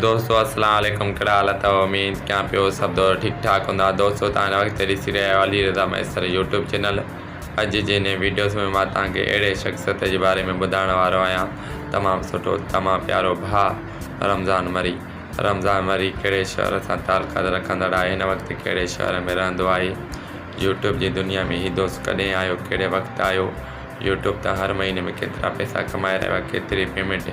دوستو السلام عليڪم ڪهڙا حال اٿو اميد ڪيان پيو سڀ دوست ٺيڪ ٺاڪ هوندا دوستو توهان هن وقت ڏسي رهيا آهيو علي رضا ميسر يوٽيوب چينل اڄ جي هن ويڊيوز ۾ مان توهان کي اهڙي شخصيت جي باري ۾ ٻڌائڻ وارو آهيان تمام سٺو تمام پيارو ڀاء رمضان مري رمضان مري ڪهڙي شهر سان تعلقات رکندڙ آهي هن وقت ڪهڙي شهر ۾ رهندو آهي يوٽيوب جي دنيا ۾ هي دوست ڪڏهن آيو ڪهڙي وقت آيو يوٽيوب تان هر مهيني ۾ ڪيترا پئسا ڪمائي رهيو آهي ڪيتري پيمنٽ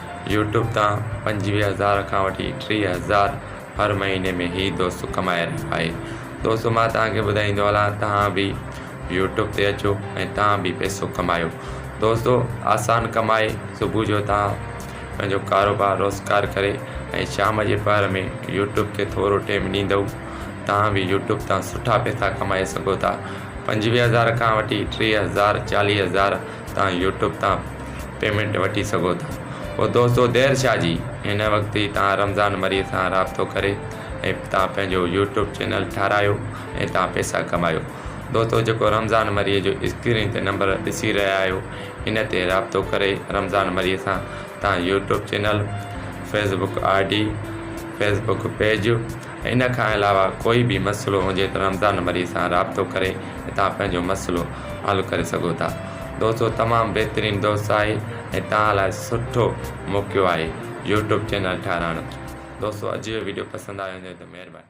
يوٽيوب تان پنجويهه هزار کان وٺي ٽيهه هزار هر مهيني ۾ هي دوست ڪمائي رهيو آهي دوستو مان توهان کي ٻڌائيندو هلان توهان به يوٽيوب تي اچو ۽ توهان به پئسو ڪمايو دوستو آسان ڪم آهي صبح جو توهان پنهنجو ڪاروبار روزگار ڪري ۽ شام جي پهر ۾ يوٽيوب کي ٿورو ٽيم ڏيندو توهان به يوٽيوب تان سٺا پئسا ڪمائي سگهو ٿا پنجويهه هزار کان وٺي ٽيهه هزار چاليهه هزار توهان يوٽيوب تان پيمينٽ وٺي سگهو ٿا پوء دوستو دير ڇا جي هن وقت ئي توهان رمضان مري سان رابطو ڪري ۽ توهان پنهنجو يوٽيوب چينل ٺاراهيو ۽ توهان پيسا ڪمايو دوستو جيڪو رمضان مري جو اسڪرين تي نمبر ڏسي رهيا آهيو ان تي رابطو ڪري رمضان مري سان توهان YouTube channel Facebook I D Facebook page ان کان علاوه ڪوئي به مسئلو هجي ته رمضان مري سان رابطو ڪري توهان پنهنجو مسئلو حل ڪري سگهو ٿا دوستو تمام بهترين دوست آهي ۽ توهان لاء سٺو موقعو آهي يوٽيوب چينل ٺهرائڻ دوستو اڄ جو ويڊيو پسند آيو هجي ته مهرباني.